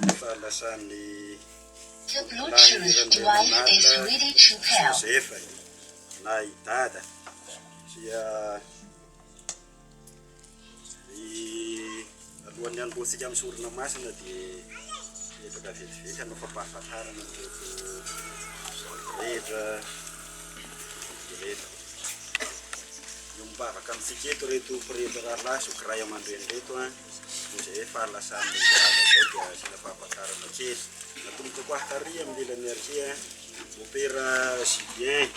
ny fahalasan'i Randrianirandriamanarina Josefa na i Dada dia alohan'ny hanombohantsika amin'ny sorona masina dia miezaka vetivety hanao fampahafantarana an'ireto rehetra ireto. Miombom-bavaka amintsika eto ireto pretra rahalahy sy mpiraiamandreny ireto an. Rehefa lasa mody rava izay dia asiana fahafantarana kely. Natomboka koa àry amin'ny lelany àry Mopera Julien,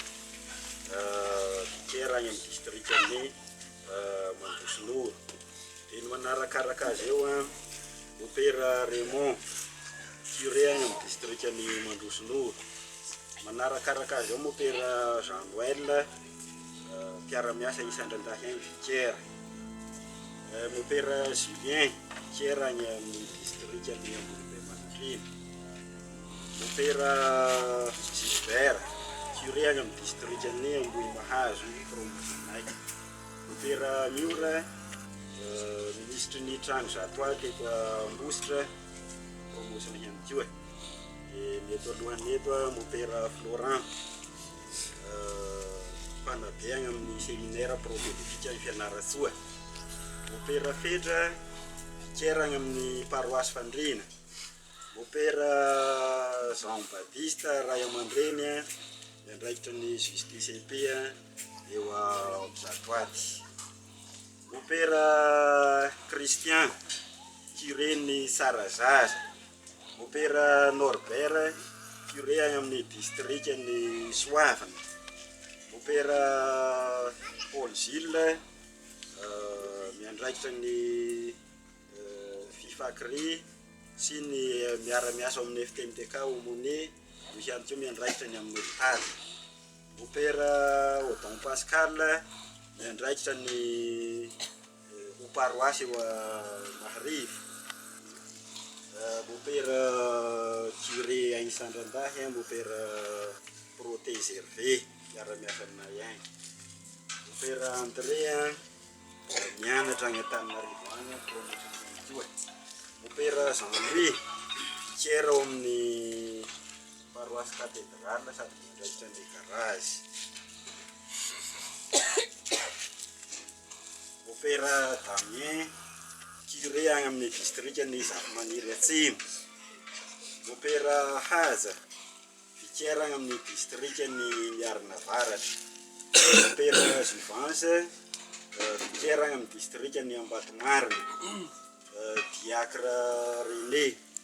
bikera any amin'ny distrikan'i Mandroso Nord. Dia ny manarakaraka azy eo, Mopera Raymond, curé any amin'ny distrikan'i Mandroso Nord. Manarakaraka azy eo Mopera Jean Noël, Mpiara-miasa isan-dRandahy Henry Thiers, Mopera Julien Thiers any amin'ny distrikan'i Ambohibemanontolo, Mopera Gilbert, Curé any amin'ny distrikan'i Ambohimahazo, Promotionay, Mopera Miora, Minisitry ny Trano Zato Aly teto Ambositra, Promotion ihany koa, dia ny eto alohany eto Mopera Florent. Misy mpanabe any amin'ny seminaire prophedeutique any Fianarantsoa, mopera Fedra, vikera any amin'ny paroasy Fandriana, mopera Jean Baptiste ray aman-dreny miandraikitra ny JSTCP eo Ambohidratoaty, mopera Christian, curé-n'ny Tsarazaza. Mopera Norbert, curé any amin'ny distrikan'i Soavina. Mopera Paul Gilles, miandraikitra ny Fifacrih sy ny miara-miasa ao amin'ny FTMTK Aumônier, io ihany koa miandraikitra ny amin'ny hopitaly. Mopera Odon Pascal, miandraikitra ny Ho paroasy eo Maharivo. Mopera curé any Sandrandahy an, mopera Protais Hervé miara-miasa aminay any. Mopera André an, mianatra any Antananarivo any an, promotion ihany koa. Mopera Jean Louis, vikera ao amin'ny paroasy Cathédrale sady miandraikitra an'ilay garage. Mopera Damien, curé any amin'ny distrikan'i Zafimaniry Atsimo. Mopera Haja, vicaire any amin'ny distrikan'i Miarina Avaratra. Mopera Jouvence, vicaire any amin'ny distrikan'i Ambatomarina. Diacre René.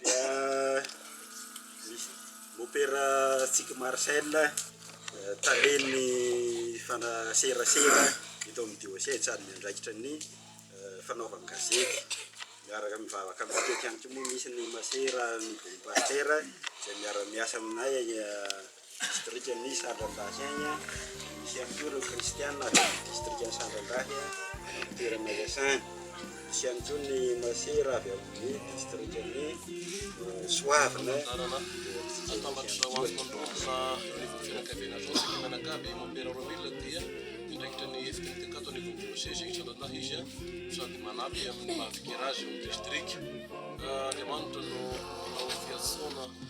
dia misy mopera tsiky Marcel talen'ny fanaserasera eto amin'ny dioseza ary miandraikitra ny fanaovan-gazety miaraka amin'ny vavaka mitety ihany koa moa misy ny masera ny boom pasteur izay miara-miasa aminay Distrikan'i Sandrandahy any, misy ihany koa ireo kristiana avy amin'ny distrikan'i Sandrandahy amin'ny toerana iasany. Misy ihany koa ny masera avy amin'ny distrikan'i Soavina eo antsika eo.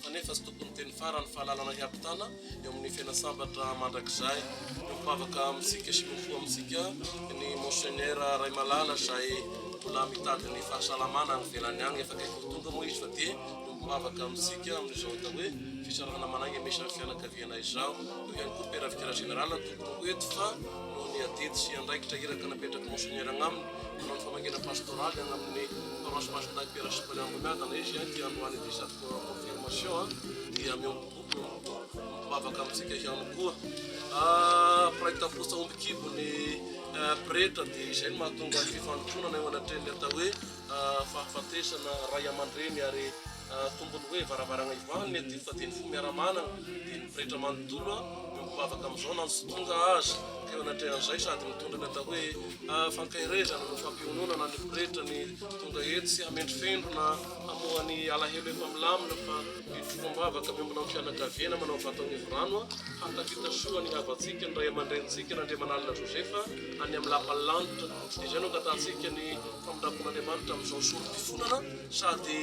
fa nefa tsy tokony teny farany fa lalana hiampitana eo amin'ny fena sambatra mandrakizay no mpivavaka amintsika sy mifo amintsika ny Monseigneur Raimalala izay mbola mitady ny fahasalamana any ivelany any efa akaiky ho tonga moa izy fa dia no mpivavaka amintsika amin'izao atao hoe fisarahana manainga misy ny fianakaviana izao eo ihany koa Père Vicaire Général tokony ho eto fa noho ny adidy sy andraikitra iraka napetraky Monseigneur agnaminy manao ny famangiana pastoraly agnaminy paroisse Masindahy Père Cyprien Amboniadana izy dia androany dia confirmation dia miombobobo mivavaka amintsika ihany koa mpiraikitra ah, fosa omby kibo ny eh, pretra dia izay no mahatonga ny fifandronana eo anatrehan'ny atao hoe ah, fahafatesana ray aman-dreny ary ah, tombony hoe varavarana ivaniny ety fa dia ny fo miaramanana dia ny pretra manontolo mivavaka amin'izao na nsotonga azy teo anatrehan'izay sady mitondra ny atao hoe fankairezana no fampiononana ny pretra ny tonga etsy hamendrofendrona Namoha ny alahelo efa milamina fa mifoha am-bavaka avy aminao fianakaviana manao vata onivorano a! Hahatafita soa ny havantsika ny ray aman-drenintsika Randriamanalina Josepha any amin'ny lapan'ny lanitra. Izay no angatahantsika ny famindrapon'Andriamanitra amin'izao sorom-pifonana sady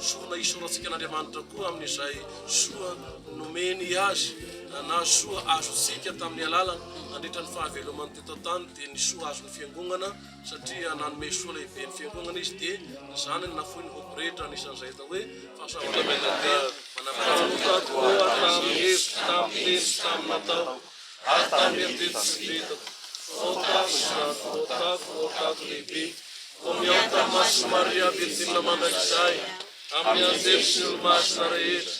sorona hisorantsika an'Andriamanitra koa amin'izay soa nomeny azy na soa azontsika tamin'ny alalany nandritra ny fahavelomany teto an-tany dia ny soa azon'ny fiangonana satria nanome soa lehibe ny fiangonana izy dia ny zanany nafoiny ho pretra, anisan'izay atao hoe fahasoavana mianadahy manampahefana. Tamin'ny taona hevitro, tamin'ny teny sy tamin'ny natao, ary tamin'ny eritreritro sy vetako, ho tato izany, ho tato, ho tato lehibe, ho miaoka ny Masin'i Maria Virjina mandrakizay, amin'ny anjely sy ny olomasina rehetra,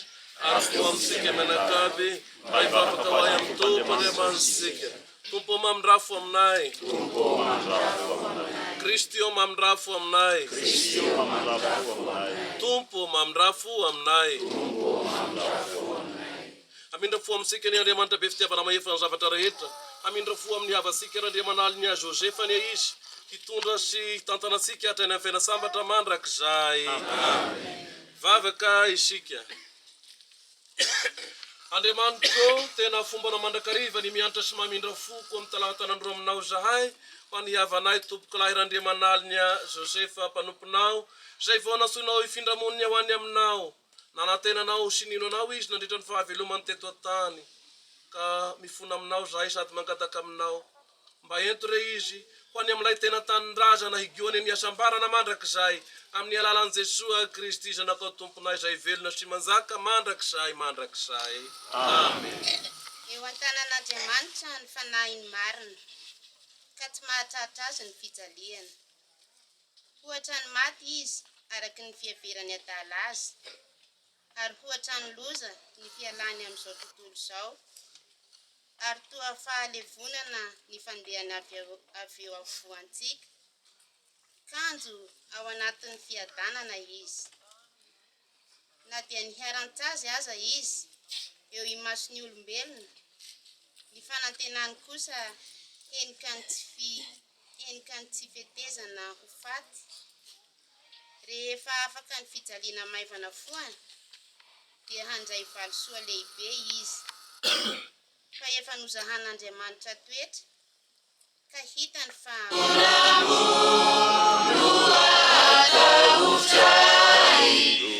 ary koa amintsika mianakavy, mba hivavaka ho ahy amin'ny Tompo Andriamanitsika. Tompo ô mamindrafo aminay. Tompo ô mamindrafo aminay. Kristy ô mamindrafo aminay. Kristy ô mamindrafo aminay. Tompo ô mamindrafo aminay. Tompo ô mamindrafo aminay. Hamindra fo amintsika anie Andriamanitra be fitiavana mahefa ny zavatra rehetra, hamindra fo amin'ny havantsika ary Andriamanaliny ahy Joseph anie izy hitondra sy hitantana antsika hatrany amin'ny fiaina sambatra mandrakizay. Amen. Vavaka isika. Andriamanitro ô, tena fombana mandrakariva ny miantra sy mamindra foko amin'ny talantanan-dro aminao izahay, fa ny havanay Tompokolahy Randriamanalina Joseph mpanomponao, izay vao nantsoinao hifindra monina ho any aminao. Nanantena anao sy nino anao izy nandritra ny fahavelomany teto an-tany. Ka mifona aminao izahay sady mangataka aminao. Mba ento re izy ho any amin'ilay tena tanindrazana higoany amin'ny hasambarana mandrakizay amin'ny alalan'i Jesoa Kristy Zanakao Tomponay izay velona sy manjaka mandrakizay mandrakizay. Amena. Eo an-tanan'Andriamanitra ny fanahiny marina, ka tsy mahatratra azy ny fijaliany. Hoatran'ny maty izy araka ny fiheveran'ny adala azy. Ary hoatran'ny loza ny fialany amin'izao tontolo izao, ary toa fahalevonana ny fandehany avy avy eo afovoantsika, kanjo ao anatin'ny fiadanana izy. Na dia niharan-tsazy aza izy eo imason'ny olombelona, ny fanantenany kosa henika ny tsy fi, Henika ny tsy fetezana ho faty. Rehefa afaka ny fijaliana maivana foana, dia handray valisoa lehibe izy. Fa efa nozahan'Andriamanitra toetra, ka hitany fa.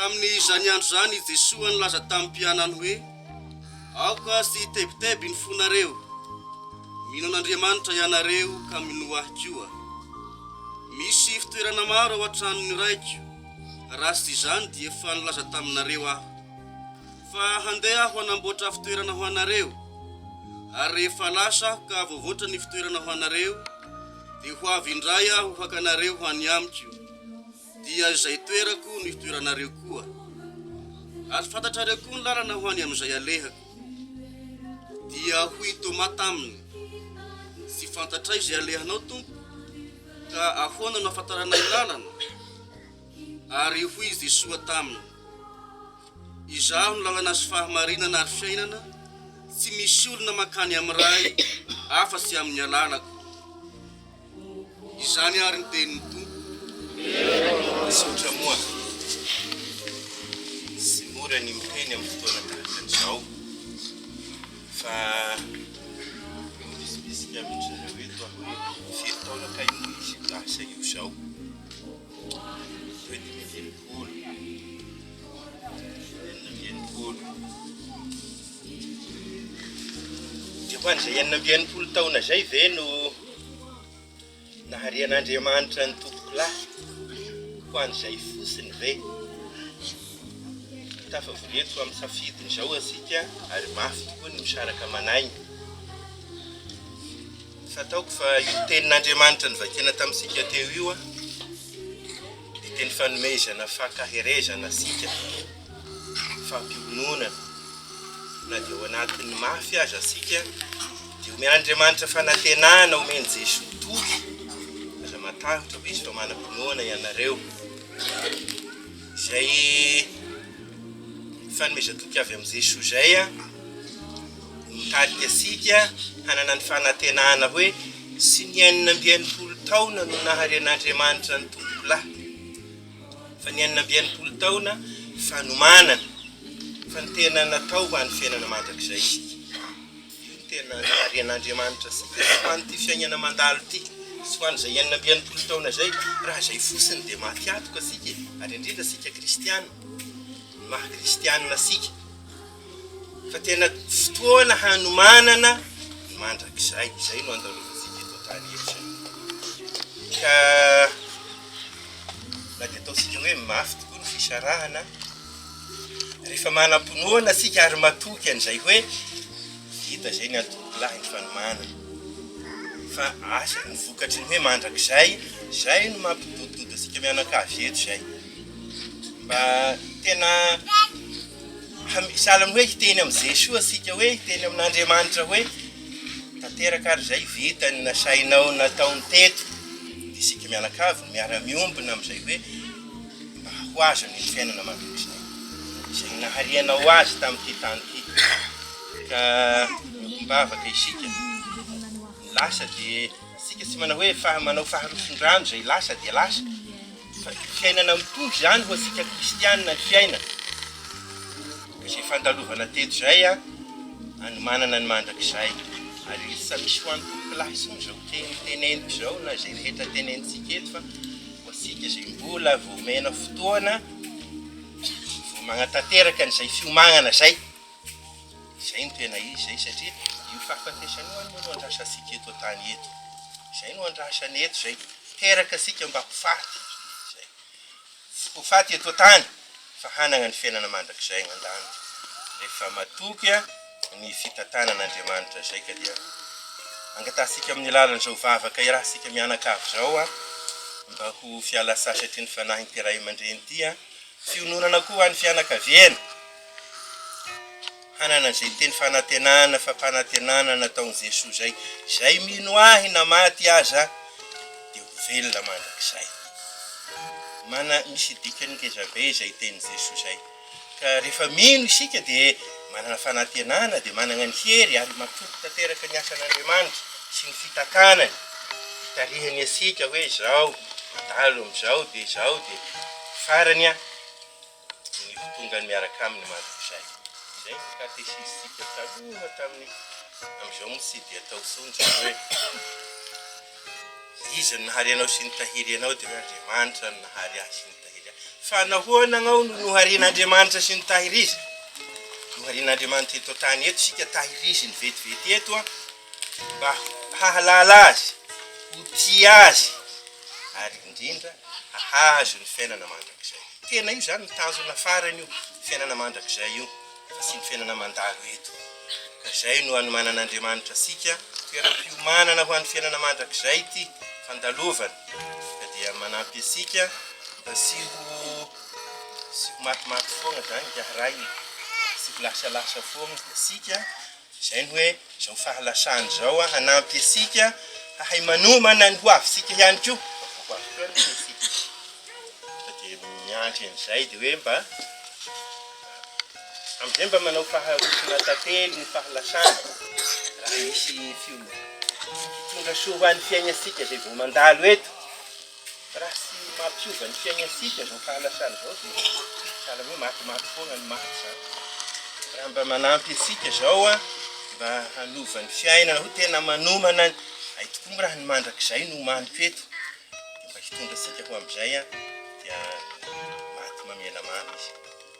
Tamin'izany andro izany i Jesoa nilaza tamin'ny mpianany hoe, Aoka tsy hitebiteby ny fonareo. Mino an'Andriamanitra ianareo ka minoa Ahy koa. Misy fitoerana maro ao an-tranon'ny Raiko, raha tsy izany dia efa nilaza taminareo Aho. Fa handeha Aho hanamboatra fitoerana ho anareo. Ary rehefa lasa Aho ka voavoatra ny fitoerana ho anareo, dia ho avy indray Aho haka anareo ho any Amiko. Dia izay toerako no hitoeranareo koa, ary fantatrareo koa ny lalana ho any amin'izay alehako. Dia hoy i Tômà taminy, Tsy fantatray izay alehanao, Tompo, ka ahoana no ahafantarana ny lalana? Ary hoy i Jesoa taminy, Izaho no lalana sy fahamarinana ary fiainana, tsy misy olona mankany amin'ny Ray afa-tsy amin'ny alalako. Izany ary ny tenin'ny Tompo. Misaotra moa. Tsy mora ny miteny amin'ny fotoana tahaka an'izao fa mivisibisika amin'dry zareo eto aho hoe firy taona kay no ho izy io lasa io izao? Hoe dimy amby enimpolo, enina amby enimpolo. Dia ho an'izay enina amby enimpolo taona izay ve no. Nahare an'Andriamanitra ny tompoko lahy, ho an'izay fotsiny ve? Tafavoreto amin'ny safidin'izao isika ary mafy tokoa ny misaraka aman'aina. Fataoko fa io tenin'Andriamanitra novakiana tamintsika teo io Fiteny fanomezana fankaherezana sika, fampiononana, na dia ao anatin'ny mafy aza sika dia omeny Andriamanitra fanantenana omeny Jesoa toky aza matahotra fa izy toa manam-pinoana ianareo izay fanomezan-toky avy amin'i Jesoa izay a mitarika sika hanana ny fanantenana hoe Tsy ny enina amby enimpolo taona no naharen'Andriamanitra ny Tompolahy, fa ny enina amby enimpolo taona fanomanana fa ny tena natao ho an'ny fiainana mandrakizay isika. Io no tena naharen'Andriamanitra antsika, tsy ho an'ity fiainana mandalo ity, tsy ho an'izay enina amby enimpolo taona izay, raha izay fotsiny dia maty antoka isika e, ary indrindra isika kristiana, ny maha kristiana antsika. Fa tena fotoana hanomanana ny mandrakizay, izay no andalovantsika eto an-tany eto izay. Ka na dia ataontsika hoe mafy tokoa ny fisarahana, rehefa manam-pinoana isika ary matoky an'izay hoe vita izay ny antoko lahy ny fanomanana, fa asa ny vokatry ny hoe mandrakizay, izay no mampidodododontsika mianakavy eto izay. Mba tena. Sahala amin'ny hoe hiteny amin'i Jesoa isika hoe, hiteny amin'Andriamanitra hoe, tanteraka ary izay vita ny nasainao nataony teto. Dia isika mianakavy no miara-miombona amin'izay hoe, mba ho azony ny fiainana mandrakizay. Izay nahariana ho azy tamin'ity tany ity. Ka miombom-bavaka isika. Ny lasa dia... Isika tsy manao hoe fa manao faharoson-drano izay lasa dia lasa. Fa fiainana mitovy izany ho antsika kristianina ny fiainana. Ka izay fandalovana teto izay an, anomanana ny mandrakizay. Ary izy tsy misy ho an'ny tompolahy intsony izao teny teneniko izao na izay rehetra tenenintsika eto fa ho antsika izay mbola vao omena fotoana vao manatanteraka an'izay fiomagnana izay. Izay no tena izy izay satria io fahafatesana io anie no andrasantsika eto an-tany eto. Izay no andrasana eto izay. Teraka isika mba ho faty. Izay. Tsy ho faty eto an-tany fa hanana ny fiainana mandrakizay any an-danitra. Rehefa matoky ny fitantanan'Andriamanitra izay ka dia angatahantsika amin'ny alalan'izao vavaka irahantsika mianakavy izao mba ho fialan-tsasatry ny fanahin'ity ray aman-dreny ity. Fiononana koa ho an'ny fianakaviana. Hanana izay teny fanantenana, fampanantenana nataon'i Jesoa izay, izay mino Ahy na maty aza dia ho velona mandrakizay. Mana, misy dikany ngeza be izay tenin'i Jesoa izay. Ka rehefa mino isika dia manana fanantenana, dia manana ny hery ary matoky tanteraka ny asan'Andriamanitra sy ny fitakanany, fitarihany antsika hoe izao, mandalo amin'izao dia izao dia farany an. ny ho tongany miaraka aminy mandrakizay. Izay ny katesisintsika taloha tamin'ny, amin'izao moa tsy dia atao intsony izany hoe iza no nahary anao sy nitahiry anao dia hoe Andriamanitra no nahary ahy sy nitahiry ahy. Fa nahoana anao no noharian'Andriamanitra sy nitahirizina? Noharian'Andriamanitra eto an-tany eto isika, tahiriziny vetivety eto an. mba hahalala Azy, ho tia Azy, ary indrindra hahazo ny fiainana mandrakizay. Tena io izany no tanjona farany io fiainana mandrakizay io, fa tsy ny fiainana mandalo eto. Ka izay no anomanan'Andriamanitra antsika, toeram-piomanana ho an'ny fiainana mandrakizay ity fandalovana, ka dia manampy antsika mba tsy ho tsy ho matimaty foana izany hiahy rainy, tsy ho lasalasa foana isika, Izay ny hoe izao fahalasana izao hanampy antsika hahay manomana ny hoavintsika ihany koa, raha vao ho avy teo aloha isika fa dia miandry an'izay dia hoe mba amin'izay mba manao faharesona tantely ny fahalasana raha misy fio- fitondra soa ho an'ny fiainantsika izay vao mandalo eto Raha tsy mampiova ny fiainantsika izao fahalasana izao dia sahala hoe matimaty foana ny maty izany. Raha mba manampy antsika izao mba hanova ny fiainana ho tena manomana ny ay tokoa moa raha ny mandrakizay no omaniko eto dia mba hitondra antsika ho amin'izay dia maty mamela mamy izy.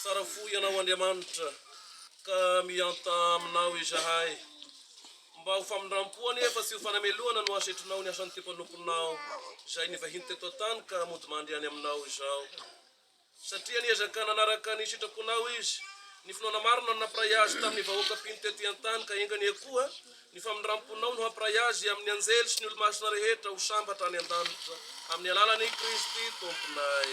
Tsara fo Ianao Andriamanitra, ka mihanta aminao izahay. Mba ho famindram-po anefa sy ho fanamelohana no asetrinao ny asan'ity mpanomponao izay nivahiny teto an-tany ka mody mandry any aminao izao. Satria niezaka nanaraka ny sitraponao izy, ny finoana marina no nampiray azy tamin'ny vahoaka mpino tety an-tany ka enga anie koa Ny famindram-ponao no hampiray azy amin'ny anjely sy ny olo-masina rehetra ho sambatra any an-danitra, amin'ny alalan'i Kristy Tomponay.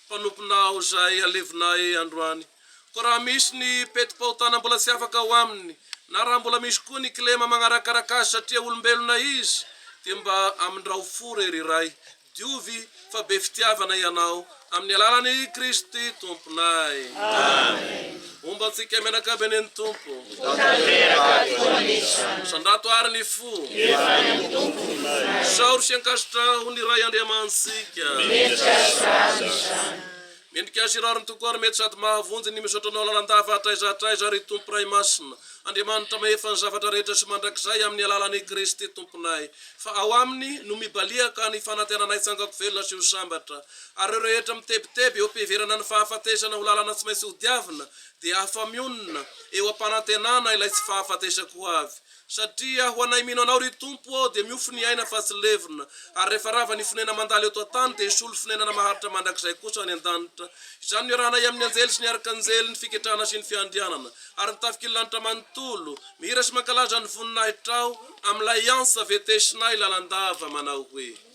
mpanomponà aho izay alevina ahy androany. Koa raha misy ny petim-pahotana mbola tsy afaka ao aminy, na raha mbola misy koa ny kilema magnarakaraka azy satria olombelona izy, dia mba amindrao fo re ry Ray, diovy fa be fitiavana Ianao, amin'ny alalan'i Kristy Tomponay. Amen. Homba antsika mianakavy anie ny Tompo. Ho tanteraka tokoa ny isany. Misandrato àry ny fo. Efa any amin'ny Tompo ny fo. Isaoro sy ankasitraho ho ny Ray Andriamanitsika. Mendrika azy irary izany. Mendrika azy irary ny Tompo ary mety sady mahavonjy ny misaotra Anao lalandava hatraiza hatraiza ry Tompo Ray Masina, Andriamanitra Mahefa ny zavatra rehetra sy mandrakizay amin'ny alalan'i Kristy Tomponay. Fa ao Aminy no mibaliaka ny fanantenanay tsangako velona sy ho sambatra. Ary ireo rehetra mitebiteby eo am-piheverana ny fahafatesana ho lalana tsy maintsy hodiavina dia afa-mionona eo am-panantenana ilay tsy fahafatesako ho avy. Satria ho anay mino Anao, ry Tompo ô, dia miofo ny aina fa tsy levona, ary rehefa rava ny fonenana mandalo eto an-tany dia hisolo fonenana maharitra mandrakizay kosa any an-danitra. Izany no iarahanay amin'ny anjely sy ny arkanjely, ny fiketrahana sy ny fiandrianana, ary ny tafik'ily lanitra manontolo, mihira sy mankalaza ny voninahitrao amin'ilay antsa vetesinay lalandava manao hoe.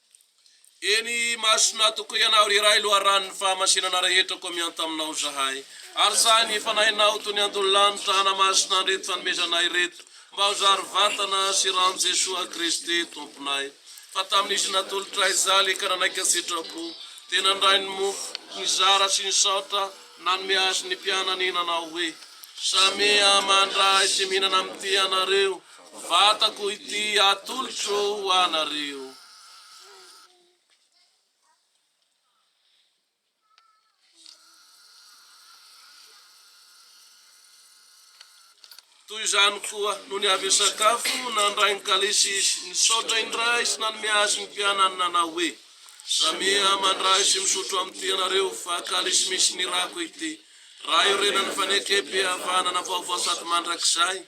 Eny imasona tokoa Ianao ry Ray Loharanon'ny fahamasinana rehetra koa mianta Aminao zahay Ary sahy ny Fanahinao toy ny antony lanitra Hanamasina an'ireto fanomezanay ireto Mba ho zary vatana sy ran'i Jesoa Kristy Tomponay Fa tamin'izy natolotray Jaly ka nanaiky an-tsitrapo Dia nandray ny mofo nizara sy nisaotra Nanome azy ny mpianany Nanao hoe Samia mandray sy mihinana amin'ity ianareo Vatako ity atolotro ho anareo. Toy izany koa, nony avy hisakafo, nandray ny kalisy izy, nisaotra indray sy nanome azy ny mpianany nanao hoe, Samia mandray sy misotro amin'ity ianareo, fa kalisy misy ny rako ity, raha iorenan'ny fanekempihavanana vaovao sady mandrakizay.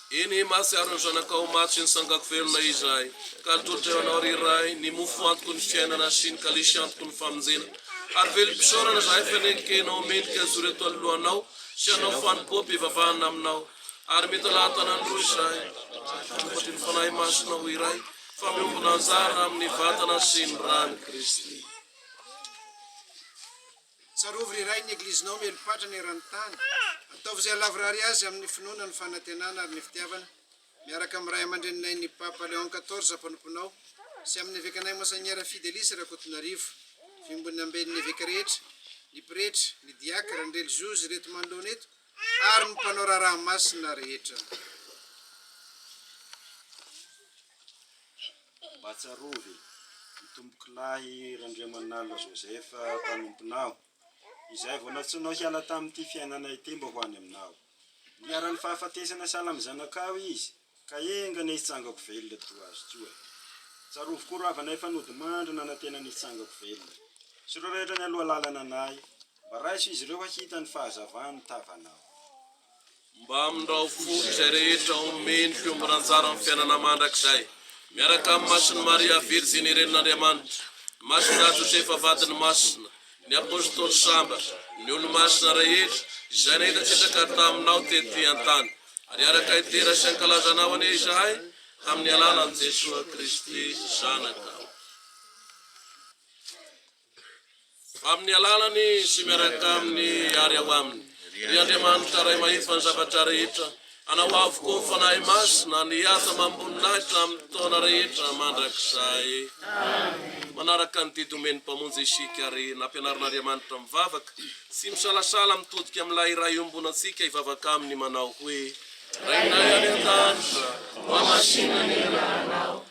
Eny, mahatsiaro ny zanakao ho maty sy ny sangako velona izahay, ka nitory teo Anao, ry Ray, ny mofo antoko ny fiainana sy ny kalisy antoko ny famonjena. Ary velom-pisaorana izahay fa nendrika Ianao mendrika hijoro eto anoloanao sy hanao fanompoam-pivavahana Aminao. Ary mitalaha tanany roa izahay, manompo an'Ily Fanahy Masina ho iray, fa miombona anjara amin'ny Vatana sy ny Ran'i Kristy. Tsarovy ry iray ny Eglizinao miely patrana eran'ny tany. Ataovy izay halavorary azy amin'ny finoana, ny fanantenana ary ny fitiavana, miaraka amin'ny Ray aman-dreninay ny Papa Léon quatorze mpanomponao sy amin'ny Evekanay Monseigneur Fidelis Rakotonarivo, Vimbon'ny Amben'ny Eveka rehetra, ny Pretra, ny Diakra, ny Relijiozy, ireto manoloana eto ary ny mpanao raharaha masina rehetra. Mba tsarovy, ny tompokolahy Randriamanala Joseph mpanomponao, izay vao nantsoinao hiala tamin'ity fiainana ity mba ho any aminao. Niharan'ny fahafatesana sahala amin'ny zanakao izy, ka enga anie hitsangako velona toa azy koa. Tsarovy koa rahavana efa nodimandry nanantena ny hitsangako velona. Sy ireo rehetra nialoha lalana anay, mba raiso izy ireo hahita ny fahazavan'ny tavanao. Mba amindrao fo izay rehetra omeny fiombona anjara amin'ny fiainana mandrakizay, miaraka amin'ny Masin'i Maria Virjiny Renin'Andriamanitra, ny Masindahy Josefa Vadiny Masina, ny Apostoly Sambatra, ny Olomasina rehetra izay nahita sitraka taminao tety an-tany, ary hiaraka hidera sy hankalaza anao anie izahay, tamin'ny alalan'i Jesoa Kristy Zanakao. Amin'ny alalan'i sy miaraka aminy ary ao aminy, ry Andriamanitra Ray Mahefa ny zavatra rehetra, anao avokoa ny Fanahy Masina no hiasa amam-boninahitra amin'ny taona rehetra mandrakizay. Manaraka ny didy omen'ny Mpamonjy isika ary nampianarin'Andriamanitra mivavaka tsy misalasala mitodika amin'ilay Iray iombonantsika hivavaka aminy manao hoe, Rainay any An-danitra, hohamasinina ny anaranao.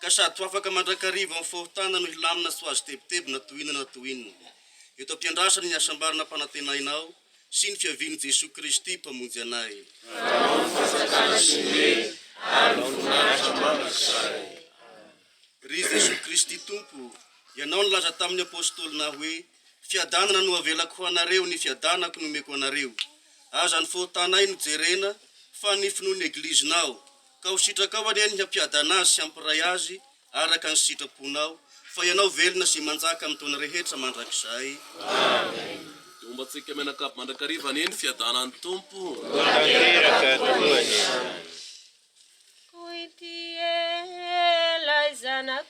ka sady ho afaka mandrakariva amin'ny fahotana no hilamina tsy ho azo tebitebina toy inona na toy inona, eto am-piandrasana ny hasambarana ampanantenainao sy ny fiavian'i Jesoa Kristy Mpamonjy anay. Fanao ny fanjakana sy ny hery ary ny voninahitra mandrakizay. Ry Jesoa Kristy Tompo, Ianao nilaza tamin'ny Apôstôlinao hoe, Fiadanana no avelako ho anareo, ny fiadanako no omeko anareo. Aza ny fahotanay no jerena, fa ny finoan'ny Eglizinao, Ka ho sitrakao anie ny hampiadana azy sy hampiray azy araka ny sitraponao, fa ianao velona sy manjaka amin'ny taona rehetra mandrakizay. Amena. Dia hombantsika mianakavy mandrakariva anie ny fiadanan'ny Tompo. Ho tanteraka tokoa anie. Kointy e, ilay zanako.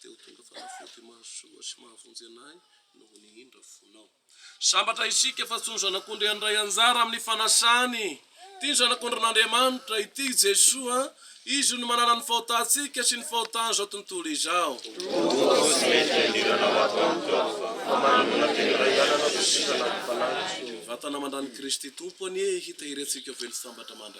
dia ho tonga fanafody mahasoa sy mahavonjy anay noho ny indra fonao. Sambatra isika fa tsy ny Zanak'ondry handray anjara amin'ny fanasany. Tia ny Zanak'ondrin'Andriamanitra, ity Jesoa, Izy no manala ny fahotantsika sy ny fahotan'izao tontolo izao. Tonga aho sy mety hiandirana ho ato amiko aho, mba manongona teny iray ihany anao Jesoa Zanak'i Fanahy. Vatana mandran'i Kristy Tompo anie hitahiry antsika ho velon-tsambatra mandrakizay.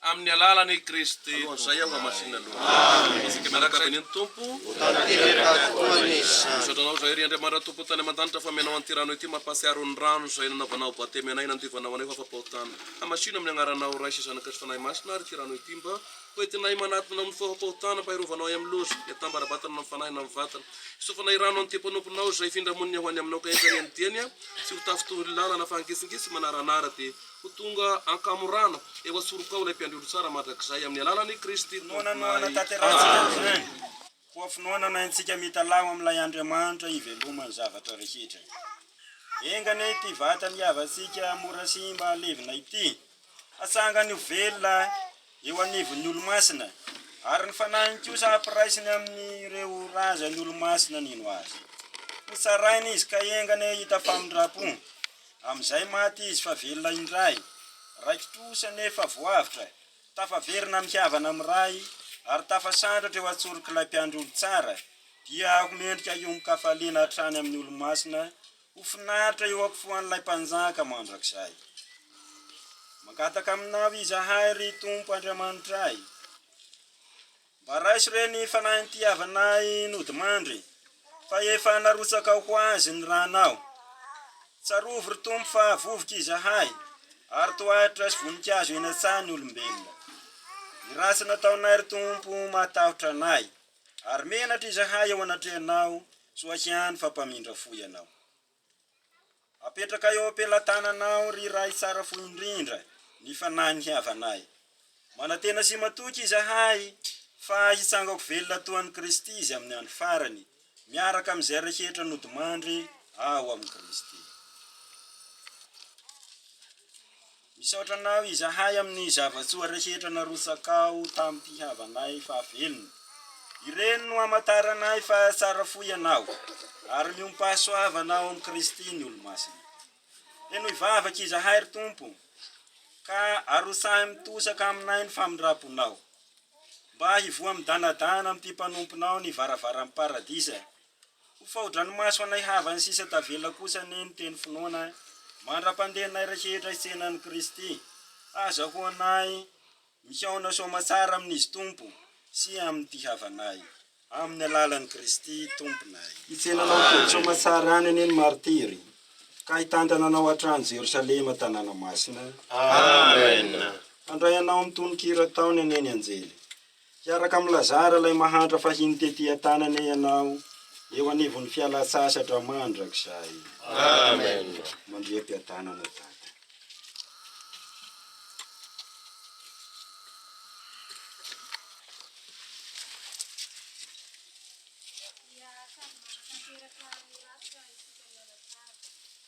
Amin'ny alalan'i Kristy Tomponay. Alohan'izay aho hamasinina aloha. Amen. Isika miaraka avy eny ny Tompo. Ho tanteraka tokoa ny izany. Misaotra Anao izahay, ry Andriamanitra Tompo tany aman-danitra, fa omenao an'ity rano ity mampahatsiaro ny rano izay nanaovanao batemy anay, nandiovanao anay ho afa-pahotana. Hamasino amin'ny Agnaranao Ray sy Zanaka sy Fanahy Masina àry ity rano ity, mba ho entinay manatona amin'ny faha-pahotana, mba hirovanao ahy amin'ny loza, ny atambara-batana na amin'ny fanahy na amin'ny vatana. Hisofanay rano an'ity mpanomponao izay hifindra monina ho any Aminao, ka entanay amin'ny diany, sy ho tafy toy ny làlana, fa hangisingitsy, manaranara, dia. Ho tonga an-kamorana eo an-tsorokao ilay Mpiandry Olo Tsara mandrakizay amin'ny alalan'i Kristy Tomponay. Amena. Koa finoanana antsika mitalaho amin'ilay Andriamanitra hivelomany zavatra rehetra. Enga anie ity vatany havantsika mora simba halevina ity, hatsangany ho velona eo anivon'ny Olomasina, ary ny Fanahiny kosa hampiraisiny amin'ireo razan'ny Olomasina nino Azy. Hotsaraina izy ka enga anie hahita famindram-po. Amin'izay maty izy fa velona indray. Raiki-trosa anefa voavotra, tafaverina amin'ny havana amin'ny Ray ary tafasandratra eo an-tsorok'ilay Mpiandry olon-tsara, dia ho mendrika hiombon-kafaliana hatrany amin'ny Olomasina, ho finaritra eo am-pofoan'ilay Mpanjaka mandrakizay. Mangataka Aminao izahay, ry Tompo Andriamanitray. Mba raiso re ny fanahintiavanay nodimandry, fa efa narotsakao ho azy ny ranao. Tsarovy ry Tompo fa vovoka izahay, ary tohatra sy voninkazo eny an-tsaha ny olombelona. Ny ratsy nataonay ry Tompo mahatahotra anay, ary menatra izahay eo anatrehanao, soakiany fa mpamindra fo ianao. Apetraka eo am-pelatananao ry Ray tsara fo indrindra ny fanahy nihavanay. Manantena sy matoky izahay fa hitsangako velona toa an'i Kristy izy amin'ny andro farany, miaraka amin'izay rehetra nodimandry ao amin'i Kristy. Misaotra anao izahay amin'ny zava-tsoa rehetra narotsakao tamim-pihavanay fahavelony. Ireny no hamantaranay fa tsara fo ianao ary miompahasoavana ao amin'i Kristy ny Olomasina. Henoy vavaka izahay, ry Tompo, ka arotsahy mitosaka aminay ny famindram-ponao, mba hivoha midanadana amin'ity mpanomponao ny varavaran'ny Paradisa Ho fahodranomaso anay havany sisa tavela kosa anie ny teny finoana mandra-pandehanay rehetra hitsena an'i Kristy. Hazahoanay mihaona soamatsara amin'Izy Tompo sy amin'ity havanay, amin'ny alalan'i Kristy Tomponay. Hitsena anao tody soamatsara any anie ny martiry, ka hitantana anao hatrany Jerosalema tanàna masina. Amen! Handray anao amin'ny tononkira ataony anie ny anjely. Hiaraka amin'i Lazara ilay mahantra fahiny tety an-tanana ianao, eo anivon'ny fialan-tsasatra mandrakizay. Amen. Mandria am-piadanana, Dada.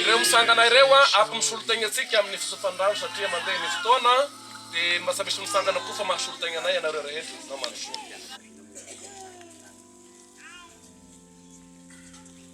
Ireo misangana ireo afo misolo tegna antsika amin'ny fisotrofan'ny rano satria mandeha ny fotoana dia mba tsy misy misangana koa fa mahasolo tegna anay ianareo rehetra na mandrosoa.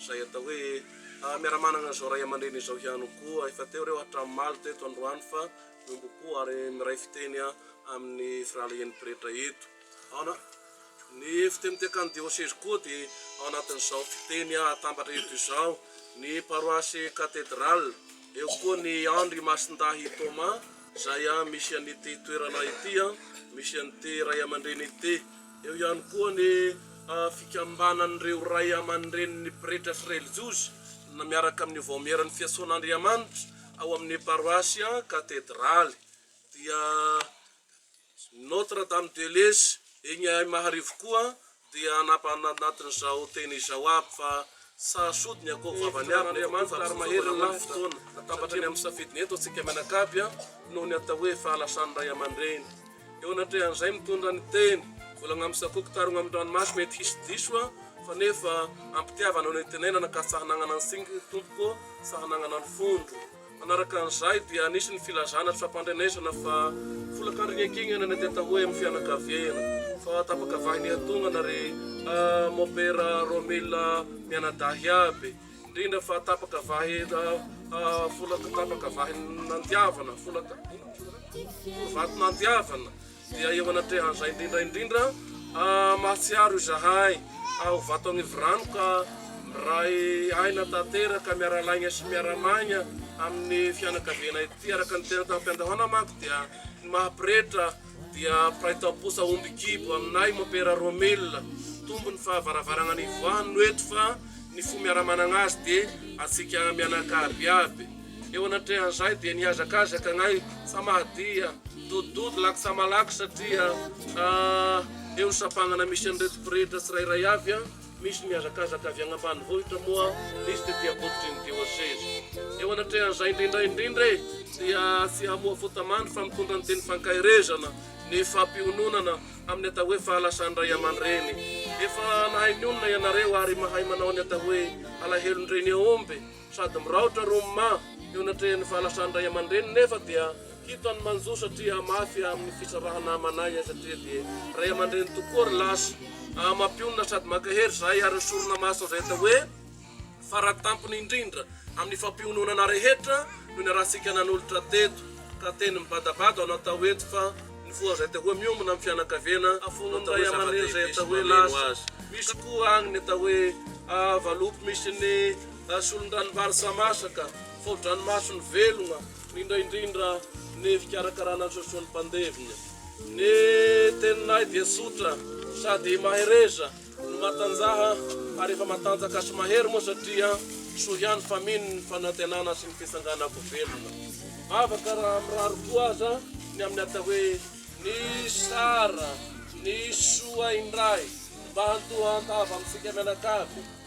izay atao hoe miara-manana izao ray aman-dreny izao ihany koa. Efa teo ireo hatramin'ny omaly teto androany fa miombom-po ary miray fiteny amin'ny firahalahian'ny pretra eto. Aona? Ny fitenintekan'ny diosezy koa dia ao anatin'izao fiteny hatambatra eto izao. Ny paroasy Cathedral, eo koa ny Andry Masindahy Thomas izay misy an'ity toerana ity, misy an'ity ray aman-dreny ity. Eo ihany koa ny fikambanan'ireo ray aman-drenin'ny pretra sy relijiozy miaraka amin'ny Vaomieran'ny Fiantsoan'Andriamanitra ao amin'ny paroasy Katedraly dia Notre Dame de Lez eny Aimaharivo koa dia anatin'izao teny izao aby fa Sa sody ny akoho vavany aby nefa koa fampisotroana hono ny fotoana? Natambatra ny amin'ny safidiny eto antsika mianakavy an, noho ny atao hoe fahalasan'ny ray aman-dreny. Eo anatrehan'izay mitondra ny teny, volagna amin'ny sakoky tarogna amin'ny ranomaso mety hisy diso an, fa nefa ampitiavana no itenenana ka sahy nagnana ny singy tompoko ô, sahy nagnana ny fondro. Manaraka an'izay dia nisy ny filazana tsy fampandrenesana fa folakandrin'Iankignana ny ateta hoe amin'ny fianakaviana fa tapaka vahy nihantognana ry Mopera Romila mianadahy aby, indrindra fa tapaka vahy folaka tapaka vahy nandiavana, folaka vato nandiavana. Dia eo anatrehan'izay indrindra indrindra, mahatsiaro izahay ao Vatonivorano ka miray aina tanteraka miara-laigna sy miara-maigna amin'ny fianakaviana ity, araka ny teny tamim-piandohana manko dia ny maha pretra dia mpiray tamposa omby kibo aminay Mompera Romila, tombo ny fahavaravaragna nivoahany no eto fa ny fo miara-managna azy dia antsika mianakavy aby. Eo anatrehan'izay dia nihazakazaka anay fa mahadiha, dododod lak sa malak satria eo sampagnana misy an'ireto pretra tsirairay avy an, misy mihazakazaka avy agny ambanivohitra moa misy tety ambototry ny dioseze. Eo anatrehan'izay indrindra indrindra e dia tsy hamoha fota mandry fa mitondra ny teny fankaherezana ny fampiononana amin'ny atao hoe fahalasan-dray aman-dreny. Efa nahay mionona ianareo ary mahay manao ny atao hoe alahelon-dreny aomby. Sady miraotra Roma eo anatrehan'ny fahalasan'ny ray aman-dreniny nefa dia hitany manjo satria mafy amin'ny fisarahana amanay ahy satria dia ray aman-dreny tokoa ry lasa. Mampionona sady mankahery izay ary ny sorona masina izay atao hoe faratampony indrindra amin'ny fampiononana rehetra no niarahantsika nanolotra teto ka teny mibadabada aho natao eto fa nifoha izay atao hoe miombona amin'ny fianakaviana afoan'ny ray aman-dreny izay atao hoe lasa. Misy koa agny ny atao hoe valopy misy ny. na solon-dranombary sa masaka, fao-dranomaso ny velogna, rindraindrindra ny fikarakarana ny sosoan'ny mpandevina. Ny teninay dia tsotra sady mahereza, ny matanjaha ary efa matanjaka sy mahery moa satria soa ihany fa mino ny fanantenana sy ny fitsanganako velona. Vavaka raha mirary koa aza ny amin'ny atao hoe ny sara, ny soa indray mba hantoa an-tava amintsika mianakavy.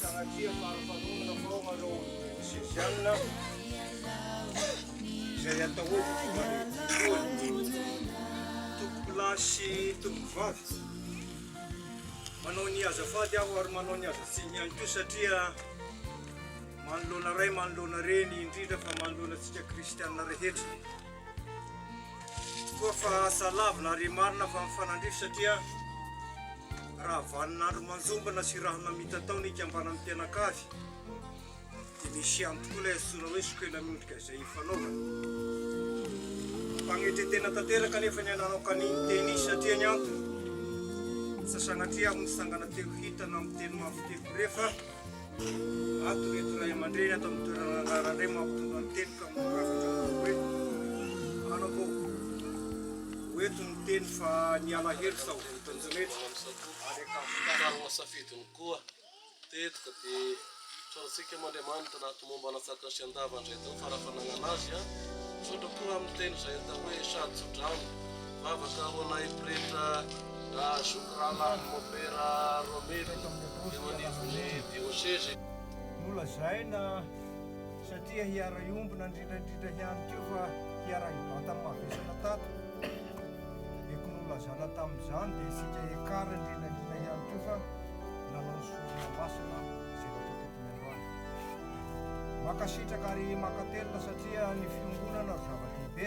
Sanatria fahafanonana fa ao anao Sesianina izay atahorako Tompoko lahy sy tompoko vavy Manao ny azafady aho ary manao ny azatsiny ihany koa satria manoloana ray manoloana reny indrindra fa manoloana antsika kristianina rehetra Toa fa asa lavina ary marina fa mifanandrify satria raha vanin'andro manjombona sy rahona mitatao ny ikambanan'ny mpianakavy dia misy ihany tokoa ilay antsoina hoe sokela miondrika izay ifanaovana. Mampagnetretena tanteraka anefa ny ananao ka ny niteny izy satria ny antony, sasanatria aho nitsangana teo hitana amin'ny teny mafy teko rehefa Ato ireto ray aman-dreny ato amin'ny toerana andrarana indray mampitondra ny teniko amin'ny rafitra manao hoe anao koa ho eto ny teny fa ny alahelo sao vitan'ny rehetra ary ankasitrahana safidiny koa teto ka dia tsorantsika amin'Andriamanitra na ato momba latsaka sy andava indray tao fara-fanagnana azy a misaotra koa amin'ny teny izay atao hoe sady tsodrano Vavaka ho anay pretra nahazo rahalahin'i Mopera Romelu teo anivon'ny diosezy. Nolazaina satria hiara-hiombona indrindra indrindra ihany koa fa hiara-hivantana mavesatra tato. Dia ko nolazana tamin'izany dia isika ekar indrindra indrindra ihany koa fa nanao ny sorona masina izay natao teto ny androany. Mankasitraka ary mankatelina satria ny fiongonana ry zava-dehibe.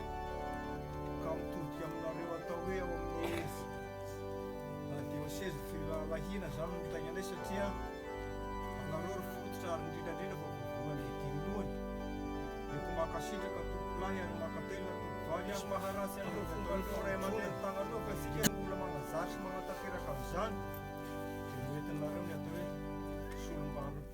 Ka mitodika aminareo atao hoe ao amin'ny ev. Na dioseza firahalahiana izany no mitaingana azy satria anareo ry fototra ary indrindra indrindra fa voalohany dia dimy lohany. Eko mankasitraka tompolahy ary mankatelina tompovaly a. Tsy maharatsy an'ireo fongan'ireo ray aman-dreny tagnanao fa isika no mbola manazary sy manatanteraka an'izany dia ho entinareo ny atao hoe solombalona.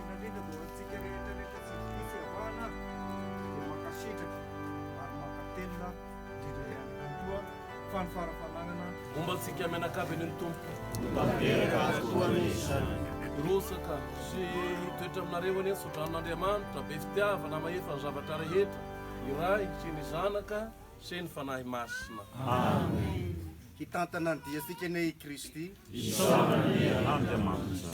Indrindra dia ho antsika rehetra rehetra tsy vitsy fiavahana ary dia mankasitraka ary mankatelina indrindra ihany koa fa ny fara fananana Momba antsika mianakavy ny Tompo. Tanteraka azy koa anie izany. Hirosaka sy hitoetra aminareo anie ny tsodranon'Andriamanitra be fitiavana mahefa ny zavatra rehetra, ny Ray sy ny Zanaka sy ny Fanahy Masina. Amen. Hitantana ny diantsika anie i Kristy. Isaorana anie Andriamanitra.